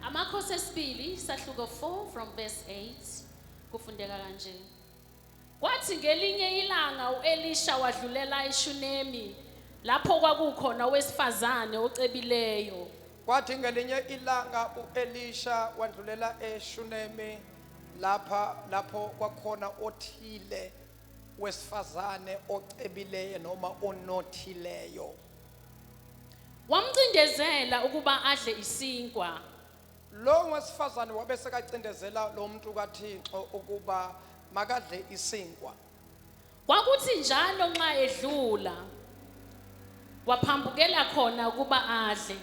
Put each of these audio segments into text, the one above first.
Amakhosi esibili isahluko 4 from verse 8 kufundeka kanje. Kwathi ngelinye ilanga uElisha wadlulela eShunemi lapho kwakukhona owesifazane ocebileyo. Kwathi ngelinye ilanga uElisha wandlulela eShunemi lapha lapho kwakhona othile wesifazane ocebileyo noma onothileyo wamcindezela ukuba adle isinkwa lowo wesifazane wabe sekacindezela lo muntu kathixo ukuba makadle isinkwa kwakuthi njalo nxa edlula waphambukela khona ukuba adle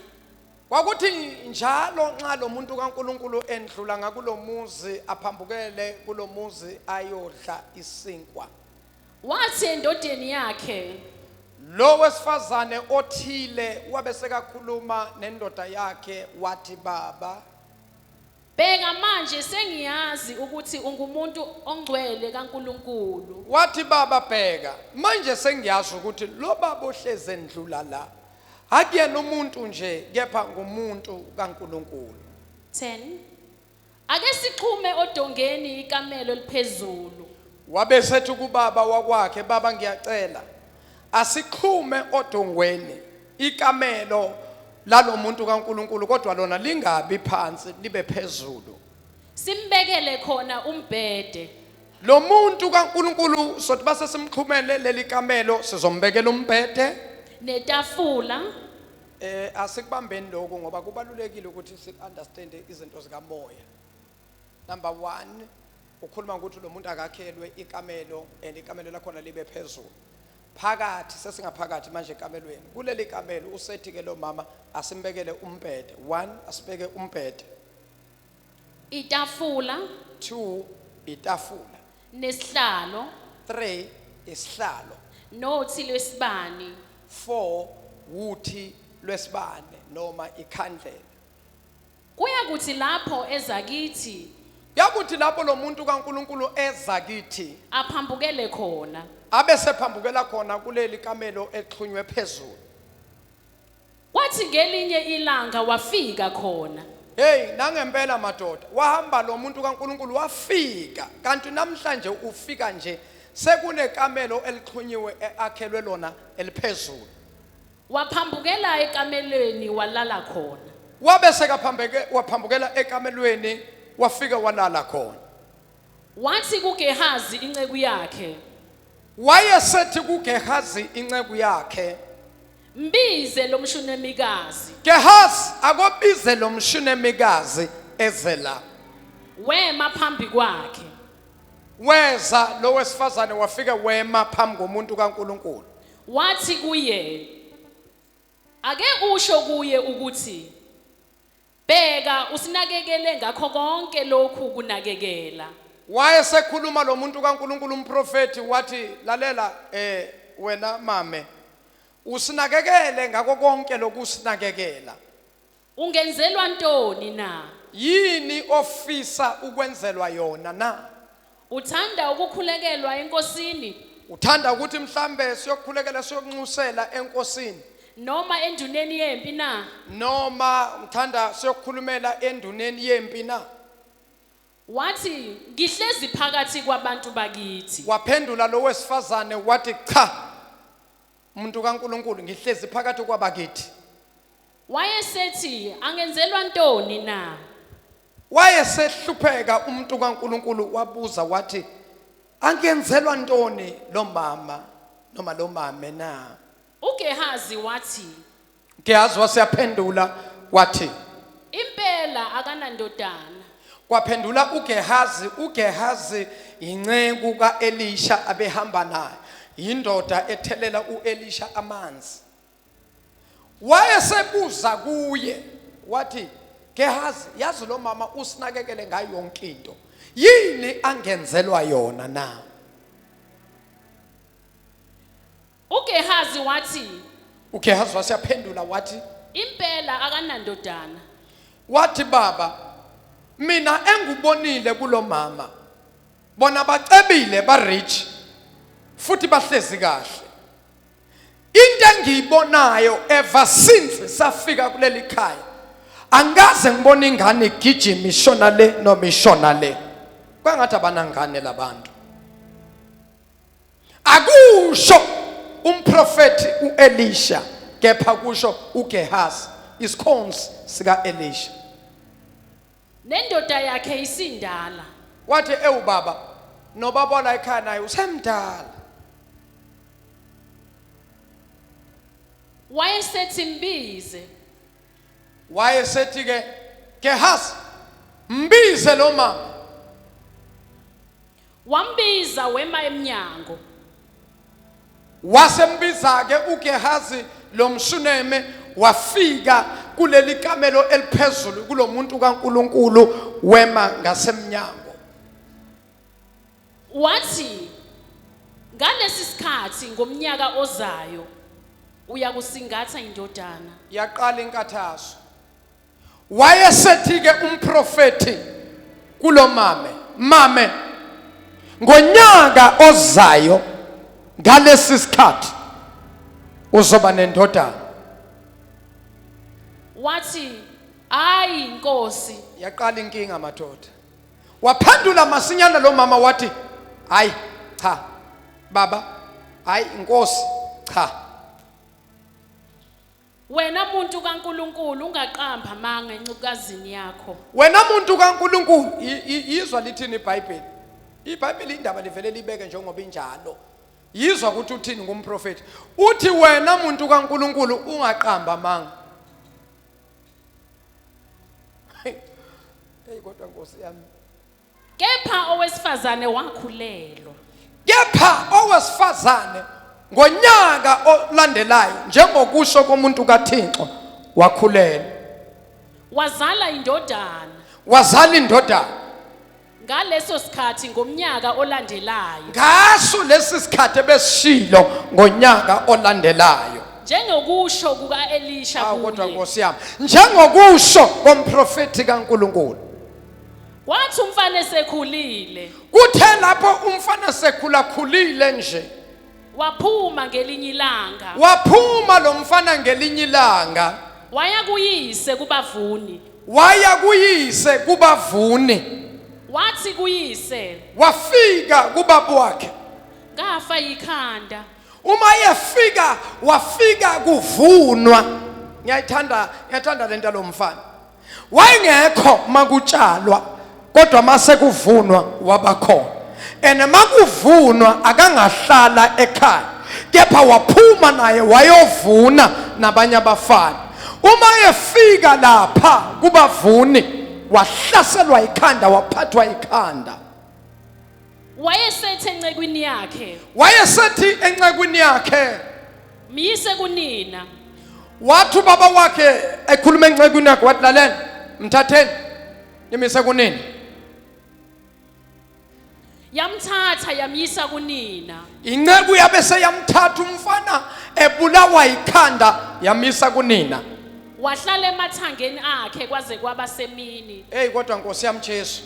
Kwakuthi njalo nxa lo muntu kaNkulunkulu endlula ngakulo muzi aphambukele kulo muzi ayodla isinkwa. Wathi endodeni yakhe, Lo wesifazane othile wabe sekakhuluma nendoda yakhe wathi baba Bheka manje sengiyazi ukuthi ungumuntu ongcwele kaNkulunkulu. Wathi baba bheka manje sengiyazi ukuthi lo baba ohleze ndlula la akuyena umuntu nje kepha ngumuntu kaNkulunkulu. 10. Ake sixhume odongeni ikamelo liphezulu. Wabe sethi kubaba wakwakhe baba ngiyacela asixhume odongweni ikamelo lalomuntu kaNkuluNkulu kodwa lona lingabi phansi libe phezulu simbekele khona umbhede lo muntu kaNkuluNkulu sothi base simxhumele leli kamelo sizombekela umbhede netafula eh asikubambeni lokho ngoba kubalulekile ukuthi si understand izinto zikamoya Number one, ukhuluma ngokuthi lo muntu akakhelwe ikamelo and ikamelo lakhona libe phezulu. Phakathi sesingaphakathi manje ekamelweni. Kuleli kamelo usethi ke lo mama asimbekele umbhede. One, asibeke umbhede. itafula Two, itafula. nesihlalo Three, isihlalo. nothi lwesibani Four, wuthi lwesibane noma ikhandlela. Kuyakuthi lapho eza kithi, Yakuthi lapho lo muntu kaNkulunkulu eza kithi, aphambukele khona. abe sephambukela khona kuleli kamelo exhunywe phezulu. Kwathi ngelinye ilanga wafika khona. Hey, nangempela madoda, wahamba lo muntu kaNkulunkulu wafika. Kanti namhlanje ufika nje sekunekamelo elixhunyiwe eakhelwe lona eliphezulu. Waphambukela ekamelweni walala khona. Wabe sekaphambeke waphambukela ekamelweni wafika walala khona. Wathi kuGehazi inceku yakhe, Wayesethi kuGehazi inceku yakhe, "Mbize lo mshunemikazi." Gehazi akobize lo mshunemikazi eze la. Wema phambi kwakhe. Weza lo wesifazane wafike wema phambi komuntu kaNkulunkulu. Wathi kuye, Ake usho kuye ukuthi, Bheka, usinakekele ngakho konke lokhu kunakekela. Wayesekhuluma lo muntu kaNkulunkulu umprofethi wathi, Lalela, eh, wena mame, usinakekele ngako konke lokusinakekela. Ungenzelwa ntoni na? Yini ofisa ukwenzelwa yona na? Uthanda ukukhulekelwa enkosini Uthanda ukuthi mhlambe siyokhulekela siyokunxusela enkosini noma enduneni yempi na? noma ngithanda siyokhulumela enduneni yempi na? Wathi, Ngihlezi phakathi kwabantu bakithi. Waphendula lo wesifazane wathi cha. Muntu kaNkuluNkulu ngihlezi phakathi kwabakithi. Wayesethi angenzelwa ntoni na? Wayesehlupheka umuntu kaNkuluNkulu wabuza wathi angenzelwa ntoni lo mama noma lo mame na? UGehazi wathi Gehazi waseyaphendula wathi, Impela akanandodana. Kwaphendula uGehazi, uGehazi yinceku kaElisha abehamba naye, yindoda ethelela uElisha amanzi. Wayesebuza kuye wathi, Gehazi, yazi lo mama usinakekele ngayo yonke into. Yini angenzelwa yona na? UGehazi wathi, uGehazi wase yaphendula wathi Impela akanandodana. wathi baba mina engubonile kulomama bona bacebile ba rich futhi bahlezi kahle into engiyibonayo ever since safika kuleli khaya angikaze ngibona ingane igijima ishona le noma ishona le kwangathi abanangane labantu akusho umprofethi uElisha kepha kusho uGehazi isikhonzi sikaElisha nendoda yakhe isindala wathi ewu baba nobaba la ekhaya naye usemdala wayesethi mbize wayesethi ke Gehazi mbize lo mama Wambiza wema emnyango. Wasembiza-ke uGehazi lo mShuneme wafika kuleli kamelo eliphezulu kulo muntu kaNkulunkulu wema ngasemnyango. Wathi, Ngalesi sikhathi ngomnyaka ozayo uyakusingatha indodana. Yaqala inkathazo. Wayesethi-ke umprofethi kulo mame, mame, ngonyaka ozayo ngalesi sikhathi uzoba nendodana. Wathi, "Hayi inkosi." Yaqala inkinga madoda. Waphendula masinyana lo mama wathi, "Hayi, cha. Baba, hayi inkosi, cha." Wena muntu kaNkulunkulu ungaqambi amanga encukazini yakho. Wena muntu kaNkulunkulu i- i- yizwa lithini iBhayibheli. IBhayibheli indaba livele libeke njengoba injalo. Yizwa ukuthi uthini ngumprofeti. Uthi wena muntu kaNkulunkulu ungaqamba amanga. Hey kodwa Nkosi yami. Kepha owesifazane wakhulelwa. Kepha owesifazane ngonyaka olandelayo njengokusho komuntu kaThixo wakhulelwa. Wazala indodana. Wazala indodana. ngaleso sikhathi ngomnyaka olandelayo ngaso lesi sikhathi ebesishilo ngonyaka olandelayo njengokusho kuka-elisha ah, kodwa nkosi yami njengokusho komprofethi kankulunkulu Kwathi umfana esekhulile Kuthe lapho umfana sekhula khulile nje waphuma ngelinye ilanga waphuma lo mfana ngelinye ilanga waya kuyise kubavuni waya kuyise kubavuni wathi kuyise wafika kubaba wakhe ngafa yikhanda uma yefika wafika kuvunwa ngiyayithanda ngiyathanda lento lomfana wayengekho makutshalwa kodwa mase kuvunwa wabakhona and makuvunwa akangahlala ekhaya kepha waphuma naye wayovuna nabanye abafana uma efika lapha kubavuni wahlaselwa ikhanda waphathwa ikhanda Wayesethi encekwini yakhe, wayesethi encekwini yakhe myise kunina. wathi ubaba wakhe ekhuluma encekwini yakhe wathi lalela mthatheni nimise kunini Yamthatha yamyisa kunina. inceku yabe seyamthatha umfana ebulawa yikhanda yamisa kunina Wahlala emathangeni akhe kwaze kwaba semini. eyi kodwa nkosi yami jesu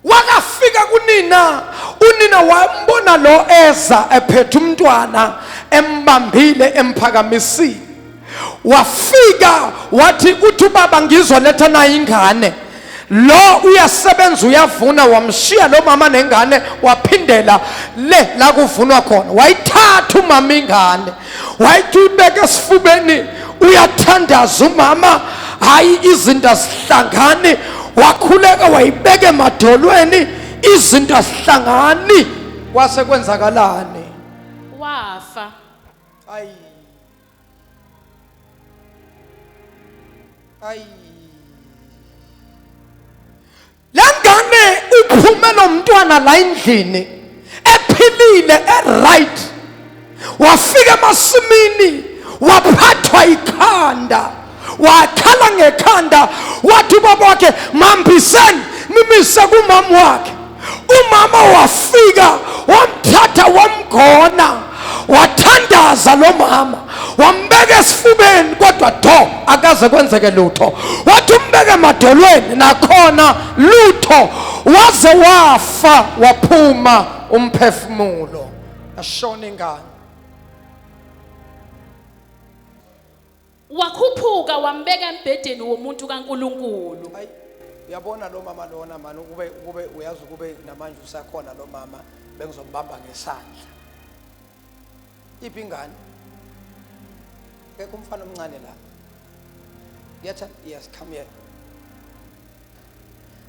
wakafika kunina unina wambona lo eza ephethe umntwana embambile emphakamisile wafika wathi uthi ubaba ngizwa letha nayo ingane lo uyasebenza uyavuna wamshiya lo mama nengane waphindela le la kuvunwa khona wayithatha umama ingane wayithi uyibeke esifubeni uyathandaza umama hayi izinto azihlangani wakhuleka wayibeke emadolweni izinto azihlangani kwase kwenzakalani wafa ayi ayi lengane uphume nomntwana la endlini ephilile eright wafika emasimini waphathwa ikhanda wakhala ngekhanda wathi ubaba wakhe mambiseni nimise kumama wakhe umama wafika wamthatha wamgona wathandaza lo mama wambeka esifubeni kodwa do akaze kwenzeke lutho wathi umbeke emadolweni nakhona lutho waze wafa waphuma umphefumulo ashona ingane Wakhuphuka wambeka embhedeni womuntu kaNkulunkulu. Ayi uyabona lo mama lona mani ukube ukube uyazi ukube namanje usakhona lo mama bengizombamba ngesandla. Iphi ingane? Kekho umfana omncane la. Yetha yes come here.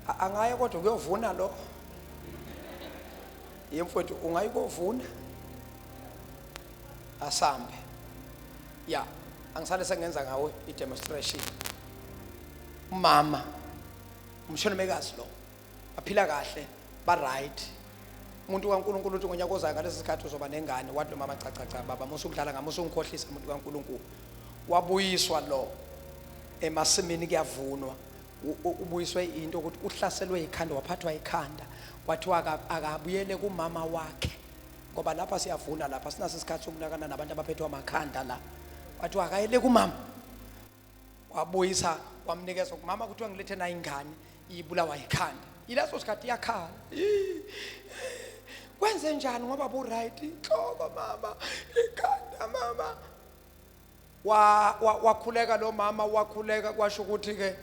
A- Angaye kodwa kuyovuna lo. Yemfowethu ungayi kovuna. Asambe. ya angisale sengenza ngawo i-demonstration umama umshonimekazi lo baphila kahle ba-right umuntu kankulunkulu uthi ngonyaka ozayo ngalesi sikhathi uzoba nengane wathi lomama cacaca baba musa ukudlala ngami musa ungikhohlisa umuntu kankulunkulu wabuyiswa lo emasimini kuyavunwa u- u- ubuyiswe into ukuthi uhlaselwe ikhanda waphathwa ikhanda kwathiwa aka- akabuyele kumama wakhe ngoba lapha siyavuna lapha sinaso isikhathi sokunakana nabantu abaphethwe amakhanda la kwathiwa akayele kumama wabuyisa wamnikeza kumama kuthiwa ngilethe nayo ingane ibulawa yikhanda yileso sikhathi iyakhala kwenze njani ngoba bu-right inhloko mama ikhanda mama wa, wa, wakhuleka lo mama wakhuleka kwasho ukuthi ke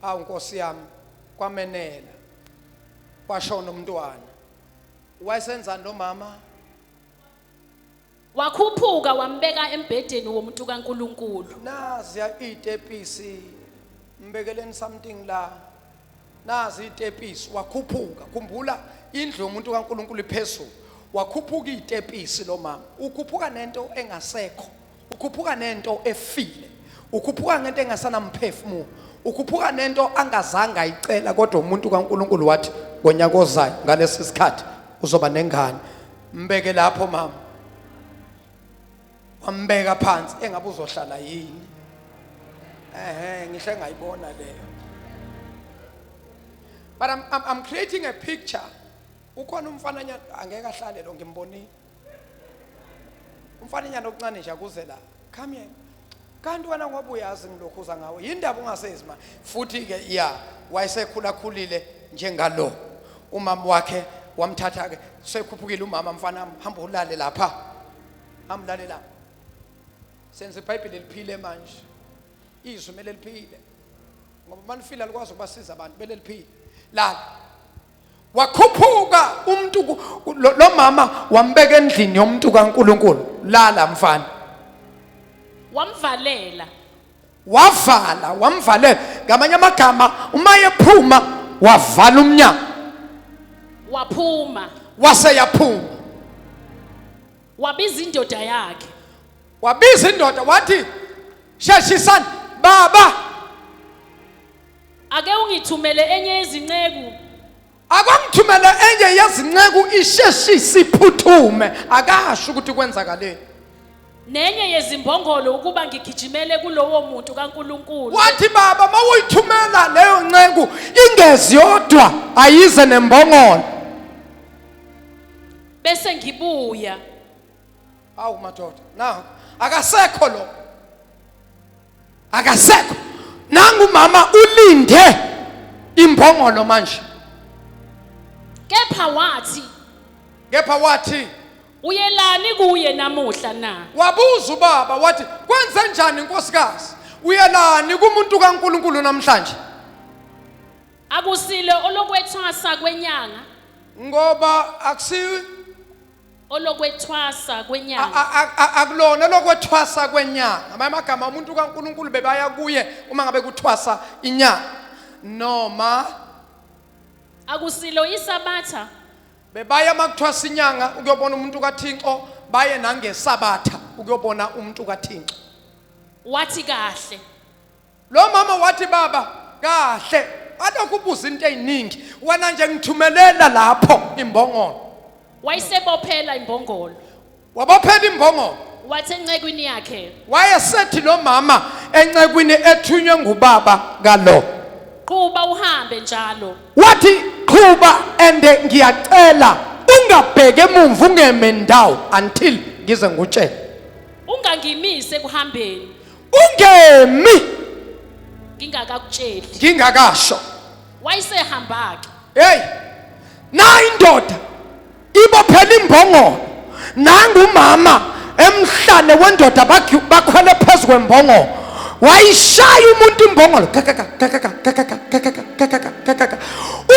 awu nkosi yami kwamenela kwashona umntwana wayesenzani lo mama wakhuphuka wambeka embhedeni womuntu kaNkuluNkulu naziya itepisi mbekeleni something la nazi itepisi wakhuphuka khumbula indlu yomuntu kaNkulunkulu iphezulu wakhuphuka itepisi lo mama ukhuphuka nento engasekho ukhuphuka nento efile ukhuphuka ngento engasanamphefumulo ukhuphuka nento angazange ayicela kodwa umuntu kaNkuluNkulu wathi ngonyaka ozayo ngalesi sikhathi uzoba nengane mbeke lapho mama wambeka phansi engabe uzohlala yini ehe ngihle ngayibona leyo but I'm, I'm, I'm creating a picture ukhona umfananyana angeke ahlale lo ngimbonile umfananyana okuncane nje akuze la come here kanti wena ngoba uyazi ngilokhuza ngawe yindaba ungasezi ma futhi ke ya wayesekhulakhulile njengalo umama wakhe wamthatha ke sekhuphukile umama mfana hamba ulale lapha Hamlalela. Senze iBhayibheli liphile manje. Izwi mele liphile. Ngoba manifila likwazi ukubasiza abantu mele liphile. Lala. Wakhuphuka umuntu lo mama wambeka endlini yomuntu kaNkuluNkulu. Lala mfana. Wamvalela. wavala wamvalela ngamanye amagama uma ephuma wavala umnyango waphuma wase yaphuma wabiza indoda yakhe wabiza indoda wathi sheshisani baba ake ungithumele enye izinceku akwangithumele enye yezinceku isheshise iphuthume akasho ukuthi kwenzakaleni nenye yezimbongolo ukuba ngigijimele kulowo muntu kaNkuluNkulu wathi baba mawuyithumela leyo nceku ingezi yodwa ayize nembongolo bese ngibuya awu madoda na akasekho lo akasekho nangu umama ulinde imbongolo manje kepha wathi kepha wathi uyelani kuye namuhla na wabuza ubaba wathi kwenze njani inkosikazi uyelani kumuntu kaNkuluNkulu namhlanje akusile olokwethwasa kwenyanga ngoba akusi olokwethwasa A- kwenyanga a- a- a- akulona lokwethwasa kwenyanga amanye amagama umuntu kankulunkulu bebaya kuye uma ngabe kuthwasa inyanga noma akusilo isabatha bebaya uma kuthwasa inyanga ukuyobona umuntu kathinxo baye nangesabatha ukuyobona umuntu kathinxo wathi kahle Lo mama wathi baba kahle alokhu ubuza into eziningi wena nje ngithumelela lapho imbongolo. Wayisebophela imbongolo. Wabophela imbongolo. Wathi encekwini yakhe. Wayesethi lo mama encekwini ethunywe ngubaba kalo. Qhuba uhambe njalo. Wathi qhuba and ngiyacela ungabheke emuva ungeme ndawo until ngize ngutshele. Ungangimise kuhambeni. ungemi ngingakakutsheli ngingakasho wayesehamba ke hey na indoda ibophela imbongolo nangumama emhlane wendoda bakhwele phezu kwembongolo wayishaya umuntu imbongolo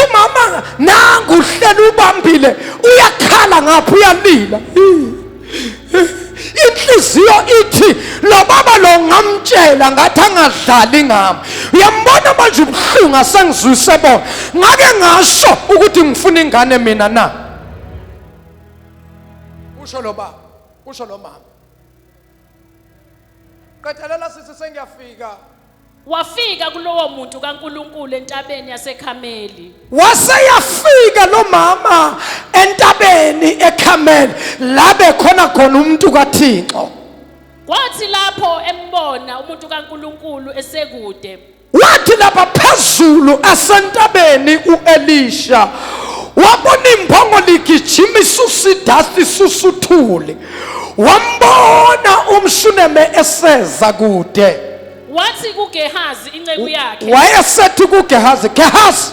umama nangu uhlela ubambile uyakhala ngapha uyalila inhliziyo ithi lo baba lo ngamtshela ngathi angadlali ngami uyambona manje ubuhlungu asengizwise bona ngake ngasho ukuthi ngifuna ingane mina na usho lo baba usho lo mama Qethelela sisi sengiyafika. Wafika kulowo muntu kaNkulunkulu entabeni yaseKhameli. Waseyafika lo mama entabeni eKhameli labe khona khona umuntu kaThixo. Kwathi lapho embona umuntu kaNkulunkulu esekude. Wathi lapha phezulu asentabeni uElisha wabona imphongo ligijima isusa idasti isusa uthuli wambona umshuneme eseza kude wathi kuGehazi inceku yakhe wayesethi kuGehazi Gehazi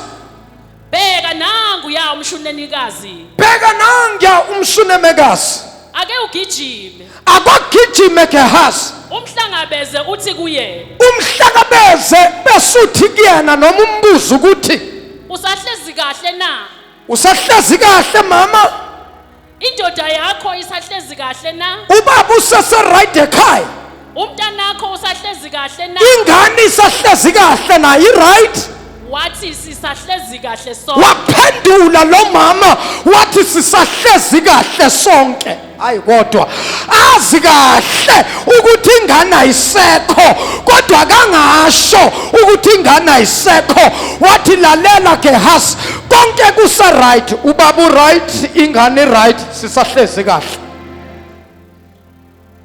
bheka nangu ya umshunenikazi bheka nanguya umshunemekazi ake ugijime akogijime gehazi umhlangabeze uthi kuye umhlakabeze besuthi kuyena noma umbuzo ukuthi usahlezi kahle na usahlezi kahle mama indoda yakho isahlezi kahle na ubaba useseright ekhaya umntanakho usahlezi kahle na ingane isahlezi kahle nayo i-right wathi sisahlezi kahle sonke waphendula lo mama wathi sisahlezi kahle sonke hayi kodwa azi kahle ukuthi ingane ayisekho kodwa kangasho ukuthi ingane ayisekho wathi lalela gehasi konke kusa right ubaba right ingane right sisahlezi kahle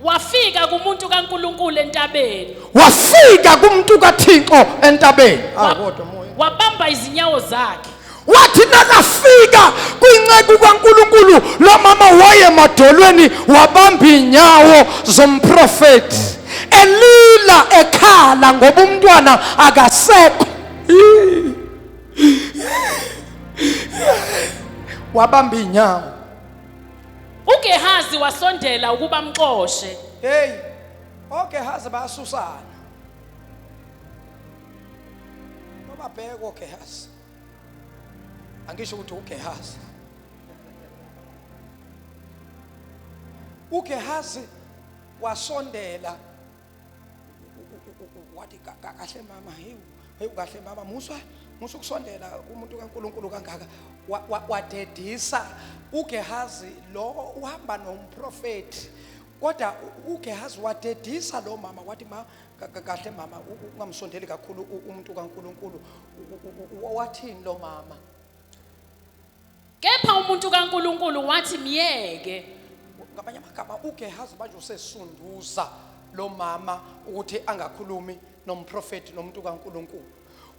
wafika kumuntu kaNkuluNkulu entabeni wafika kumuntu kaThixo entabeni ah kodwa moya wabamba izinyawo zakhe wathi nakafika kwinceku kaNkuluNkulu lo mama waye madolweni wabamba inyawo zomprofeti elila ekhala ngoba umntwana akasekho wabamba iy'nyawo ugehazi wasondela ukuba amxoshe heyi ogehazi bayasusana nobabheke ogehazi angisho ukuthi ugehazi ugehazi wasondela wathi kahle mama hewu hewu kahle mama muswa musho ukusondela kumuntu kaNkuluNkulu kangaka wadedisa uGehazi lo uhamba nomprofeti kodwa uGehazi wadedisa lo mama wathi ma kahle mama ungamsondeli kakhulu umuntu kaNkuluNkulu wathini lo mama Kepha umuntu kaNkulunkulu wathi myeke. Ngabanye amagama uGehazi manje usesunduza lo mama ukuthi angakhulumi nomprofeti nomuntu kaNkulunkulu.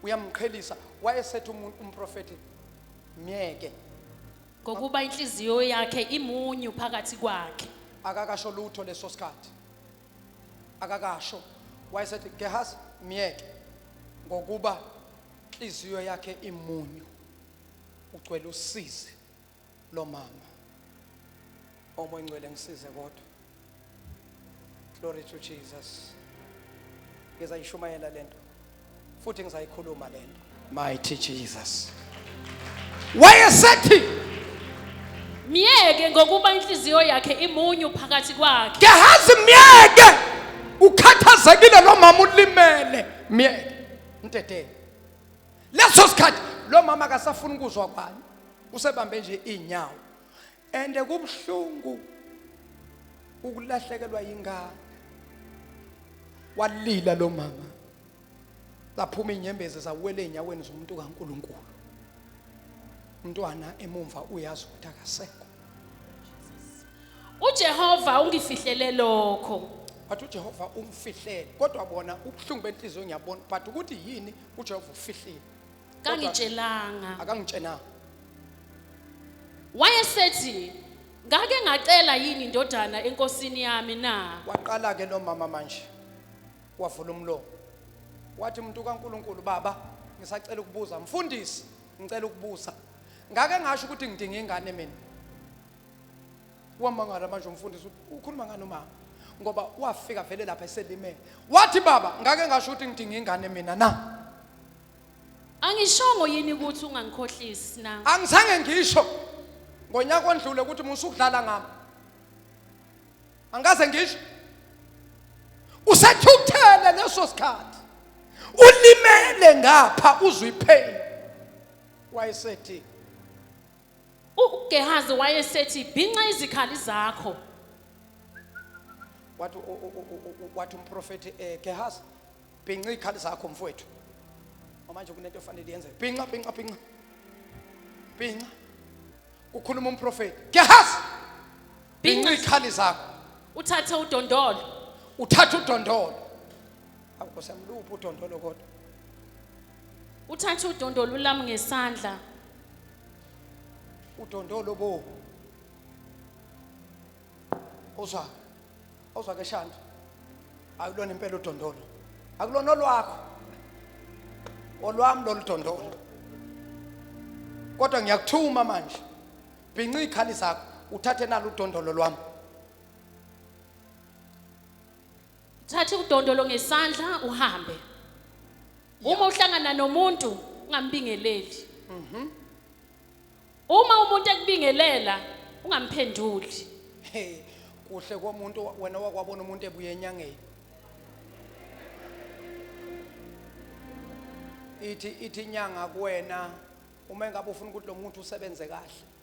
Uyamqhelisa wayesethe umuntu umprofeti myeke. Ngokuba inhliziyo yakhe imunyu phakathi kwakhe. Akakasho lutho leso sikhathi. Akakasho wayesethi Gehazi myeke ngokuba inhliziyo yakhe imunyu. ugcwele usizi lomama omoya ngcwele ngisize kodwa glory to jesus ngizayishumayela lento futhi ngizayikhuluma lento mighty jesus wayesethi myeke ngokuba inhliziyo yakhe imunyu phakathi kwakhe ngiyahazi myeke ukhathazekile lo mama ulimele myeke mteteni leso sikhathi lo mama akasafuni ukuzwa kwani usebambe nje izinyawo and kubuhlungu ukulahlekelwa yingane walila lo mama laphuma inyembezi zawela enyaweni zomuntu kaNkuluNkulu umntwana emumva uyazi ukuthi akasekho uJehova ungifihlele lokho wathi uJehova umfihlele kodwa bona ubuhlungu benhliziyo ngiyabona but ukuthi yini ujehova ufihlile kangitshelanga akangitshenanga wayesethi ngake ngacela yini indodana enkosini yami na waqala ke lo mama manje wavula umlomo wathi umuntu kaNkuluNkulu baba ngisacela ukubuza mfundisi ngicela ukubuza ngake ngasho ukuthi ngidinga ingane mina wamangala manje umfundisi ukhuluma ngani umama ngoba wafika vele lapha eselimele wathi baba ngake ngasho ukuthi ngidinga ingane mina na angishongo yini ukuthi ungangikhohlisi na angizange ngisho ngonyaka ondlule ukuthi musukudlala ngami angaze ngisho usethukuthele leso sikhathi ulimele ngapha uzwe ipain wayesethi UGehazi wayesethi, Bhinca izikhali zakho. Wathi u- u- u- u- u- wathi umprofethi eh Gehazi bhinca izikhali zakho mfowethu. Ngoba Manje kunento efanele yenzeke. Bhinca bhinca bhinca. Bhinca. Kukhuluma umprofethi. Gehazi bhinca Bhinca. izikhali zakho. Uthathe udondolo. Uthatha udondolo. Awukosamluphi udondolo kodwa. Uthatha udondolo ulami ngesandla. udondolo bo uzwa uzwa ke shanti akulona impela udondolo akulona olwakho olwami lolu dondolo kodwa ngiyakuthuma manje bhinca iy'khali zakho uthathe nalo udondolo lwami Thatha udondolo ngesandla uhambe. Uma uhlangana nomuntu ungambingeleli. Mhm. Uma umuntu ekubingelela ungamphenduli. Hey, kuhle komuntu wena wakwabona umuntu ebuye enyangeni. Ithi ithi inyanga kuwena uma engabe ufuna ukuthi lo muntu usebenze kahle.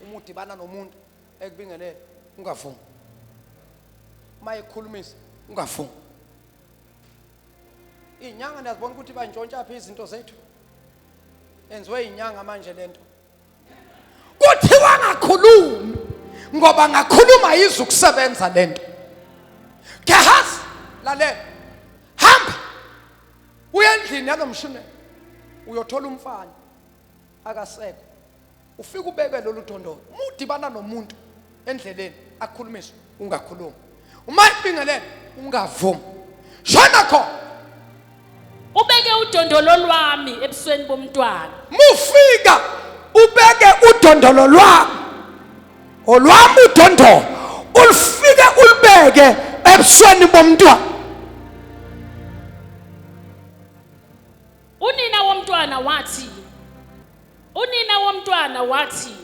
uma udibana nomuntu ekubingelele ungavumi uma ekukhulumisa ungavumi iy'nyanga niyazibona ukuthi bantshontsha phi izinto zethu enziwe iy'nyanga manje le nto kuthiwa ngakhulumi ngoba ngakhuluma yize ukusebenza le nto gehazi lalela hamba uye endlini yalomshunela uyothola umfana akasekho ufike ubeke lolu dondolo uma udibana nomuntu endleleni akhulumise ungakhulumi uma ibingelele ungavumi shona khona ubeke udondolo lwami ebusweni bomntwana mufika ubeke udondolo lwami olwami udondolo ulifike ulibeke ebusweni bomntwana Unina womntwana wathi Unina womntwana wathi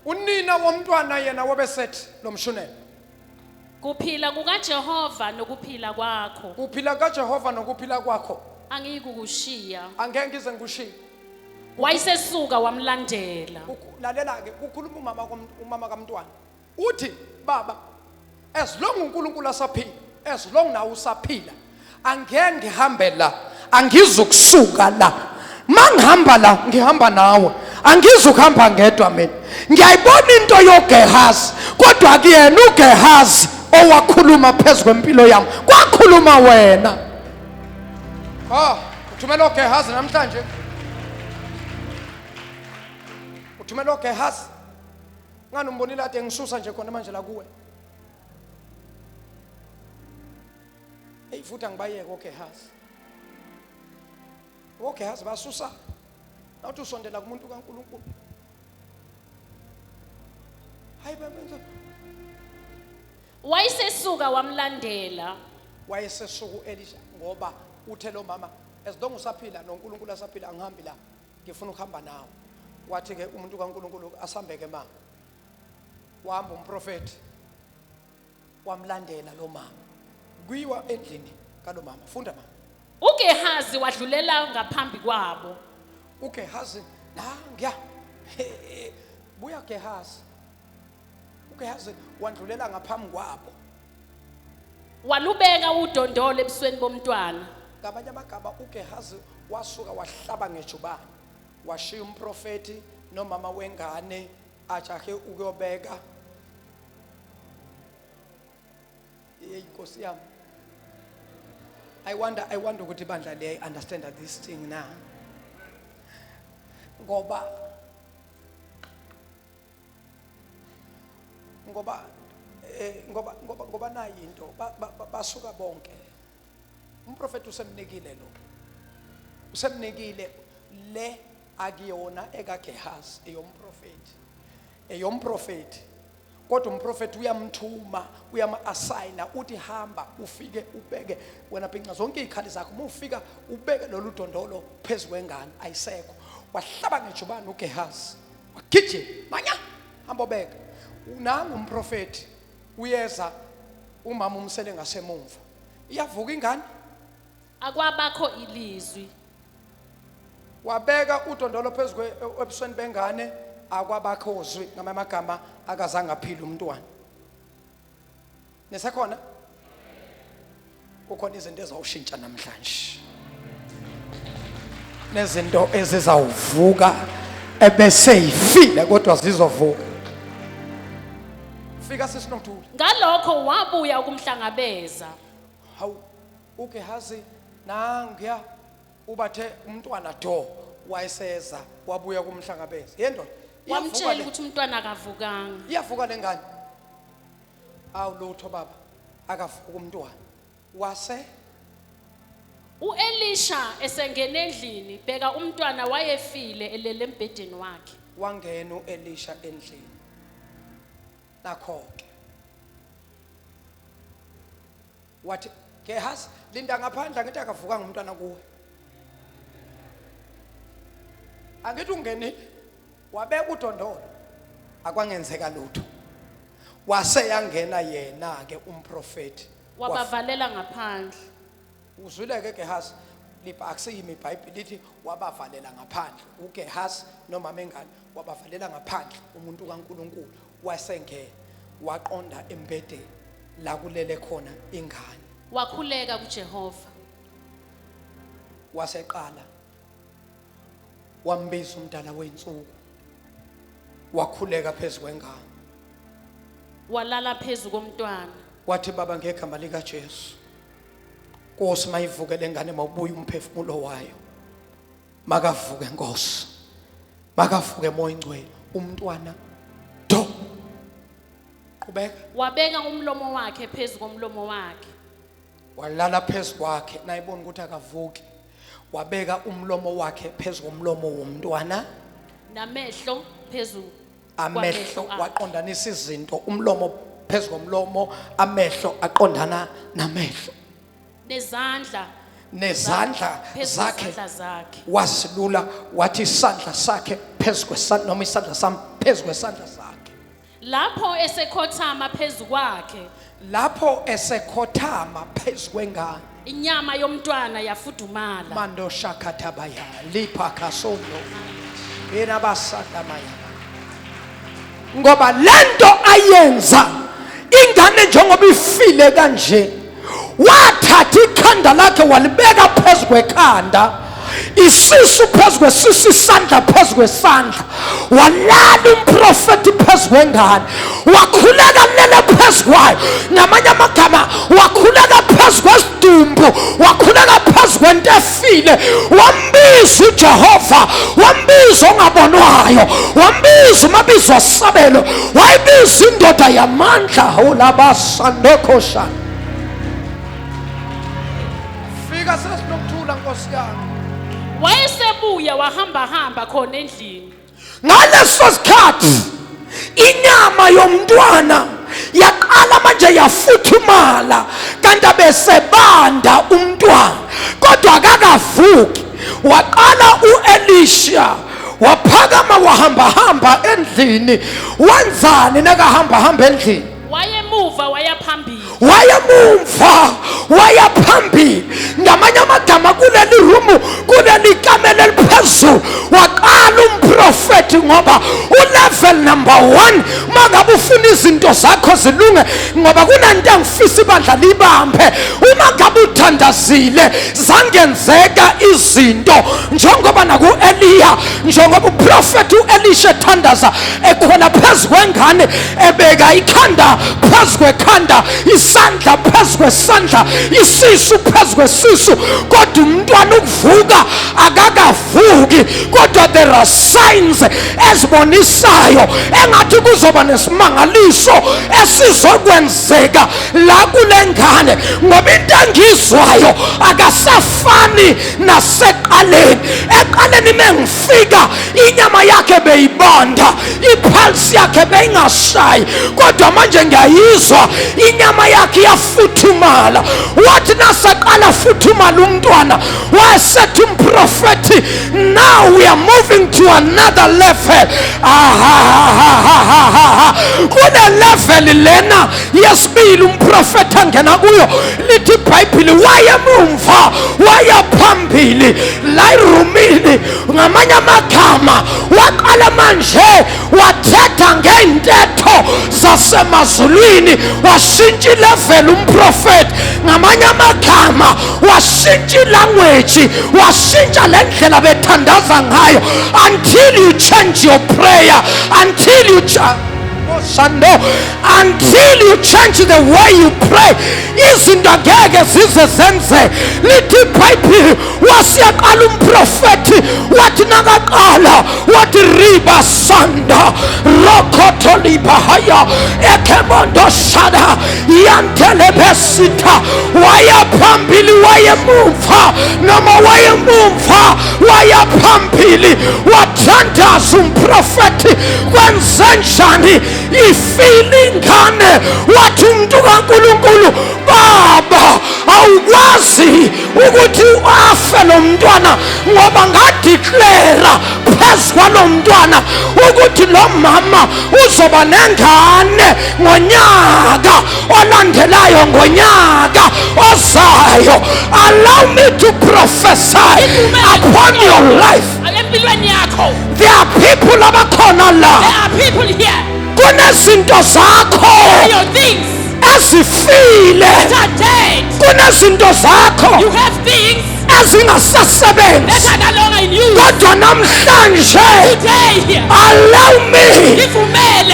Unina womntwana yena wabesethi lo mshunela. kuphila kukaJehova nokuphila kwakho Uphila kaJehova nokuphila kwakho. angiyikukushiya. Angeke ngize ngikushiye. Wayesesuka wamlandela. Ukhu- Lalela ke kukhuluma umama kom- umama kamntwana. uthi baba as long uNkulunkulu asaphila as long nawe usaphila angeke ngihambe la angizukusuka la mangihamba la ngihamba nawe angizukuhamba ngedwa mina ngiyayibona into yoGehazi kodwa kuyena uGehazi owakhuluma phezu kwempilo yami kwakhuluma wena ah uthumela uGehazi namhlanje uthumela uGehazi ngani umbonile ade ngisusa nje khona manje la kuwe eyi futhi angibayeke ogehazi ogehazi basusa nawuthi usondela kumuntu kankulunkulu hayi bamenza wayesesuka wamlandela wayesesuku elisha ngoba uthe lo mama as long usaphila nonkulunkulu asaphila angihambi la ngifuna ukuhamba nawe wathi-ke umuntu kankulunkulu asambeke ma wahamba umprofethi wamlandela lo mama kuyiwa endlini kalo mama funda mama ugehazi wadlulela ngaphambi kwabo ugehazi nangiya buya gehazi uGehazi wandlulela ngaphambi kwabo walubeka udondolo ebusweni bomntwana ngamanye amagama uGehazi wasuka wahlaba ngejubane washiya umprofeti nomama wengane ajahe ukuyobeka yeyi nkosi yami i wonder i wonder ukuthi ibandla liyayi understand this thing na ngoba ngoba eh, ngoba ngoba ngoba nayi into basuka bonke umprofeti usemnikile lo usemnikile le akuyona ekaGehazi eyomprofeti eyomprofeti kodwa umprofeti uyamthuma uyama-asayina uthi hamba ufike ubeke wena bhinca zonke iy'khali zakho uma ufika ubeke lolu dondolo phezu kwengane ayisekho wahlaba ngejubane ugehazi wagijima manya hamba obeka nangu umprofeti uyeza umama umsele ngasemumva iyavuka ingane akwabakho ilizwi wabeka udondolo phezu kwe- ebusweni bengane akwabakhozwi ngamanye amagama akazange aphile umntwana nisekhona kukhona izinto ezawushintsha namhlanje nezinto ezizawuvuka ebeseyifile kodwa zizovuka fika sisinokuthula ngalokho wabuya ukumhlangabeza hawu ugehazi nangiya ubathe umntwana do wayeseza wabuya kumhlangabeza yendoda wamtshela ukuthi umntwana akavukanga iyavuka lengane awu lutho baba akavuka umntwana wase uElisha esengena endlini bheka umntwana wayefile elele embhedeni wakhe wangena uElisha endlini nakho-ke wathi gehazi linda ngaphandle angithi akavuka ngumntwana kuwe angithi ungenile wabeka udondolo akwangenzeka lutho wase yangena yena ke umprofeti wabavalela ngaphandle uzwile ke Gehazi liba akusiyimi iBhayibheli lithi wabavalela ngaphandle uGehazi nomama engane wabavalela ngaphandle umuntu kaNkuluNkulu wasengena waqonda embedeni la kulele khona ingane wakhuleka kuJehova waseqala wambiza umdala wensuku wakhuleka phezu kwengane walala phezu komntwana wathi baba ngegama likaJesu Nkosi mayivuke lengane mawubuye umphefumulo wayo makavuke Nkosi makavuke moya ingcwele umntwana do qhubeka wabeka umlomo wakhe phezu komlomo wakhe walala phezu kwakhe nayibona ukuthi akavuki wabeka umlomo wakhe phezu komlomo womntwana namehlo phezu amehlo kwamehlo akhe. waqondanisa izinto umlomo phezu komlomo amehlo aqondana namehlo nezandla nezandla phezu zakhe kwezandla zakhe wasilula wathi isandla sakhe phezu kwesandla noma isandla sami phezu kwesandla sakhe Lapho esekhothama phezu kwakhe, lapho esekhothama phezu kwengane inyama yomntwana yafudumala. mando shakathabaya lipha kasondo irabasandamaya ngoba lento ayenza ingane njengoba ifile kanje wathatha ikhanda lakhe walibeka phezu kwekhanda isisu phezu kwesisu isandla phezu kwesandla walala umprofethi phezu kwengane wakhuleka lele phezu kwayo namanye amagama wakhuleka phezu kwesidumbu wakhuleka phezu kwento efile wambiza ujehova wambiza ongabonwayo wambiza umabizo sabelo wayibiza indoda yamandla hawulabasi sandokoshana fika sesinokuthula nkosi yami wayesebuya wahambahamba khona endlini ngaleso sikhathi inyama yomntwana yaqala manje yafuthumala kanti abesebanda umntwana kodwa akakavuki waqala uElisha waphakama wahambahamba endlini wenzani nakahambahamba endlini wayemuva wayaphambili wayemumva wayaphambili ngamanye amagama kuleli rumu kuleli kamela eliphezulu waqala umprofethi ngoba ulevel number one uma ngabe ufuna izinto zakho zilunge ngoba kunanto engifisa ibandla libambe uma ngabe uthandazile zangenzeka izinto njengoba naku-eliya njengoba uprofethi u-elisha ethandaza ekhona phezu kwengane ebeka ikhanda phezu kwekhanda isandla phezu kwesandla isisu phezu kwesisu kodwa umntwana ukuvuka akakavuki kodwa there are signs ezibonisayo engathi kuzoba nesimangaliso esizokwenzeka la kule ngane ngoba into engizwayo akasafani naseqaleni eqaleni mengif fika inyama yakhe beyibanda iphalisi yakhe beyingashayi kodwa manje ngiyayizwa inyama yakhe iyafuthumala wathi nasaqala afuthumala umntwana wayesethi umprofethi now we are moving to another level kunelevel lena yesibili umprofethi angena kuyo lithi ibhayibhile wayemumva wayaphambili la irumini ngamanye amagama waqala manje wathetha ngey'ntetho zasemazulwini washintsha ileveli umprofethi ngamanye amagama washintsha ilangweji washintsha le ndlela bethandaza ngayo until you change your prayer until you change Shando until you change the way you pray izinto ngeke zize zenze lithi ibhayibhili wasiyaqala umprofethi wathi nakaqala wathi riba sanda rokhotolibahaya ekhemondoshada yantelebesitha wayaphambili wayemumva noma wayemumva wayaphambili wathandaza umprofethi kwenzenjani ifile ingane wathi umuntu kaNkulunkulu baba awukwazi ukuthi afe lo mntwana ngoba ngadeclara phezu kwalo mntwana ukuthi lo mama uzoba nengane ngonyaka olandelayo ngonyaka ozayo allow me to prophesy upon your life empilweni yakho there are people abakhona la there are people here kunezinto zakho your things ezifile kunezinto zakho ezingasasebenzi kodwa namhlanje allow me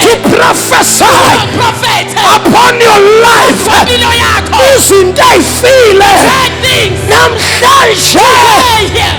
to prophesy upon your life izinto ey'file namhlanje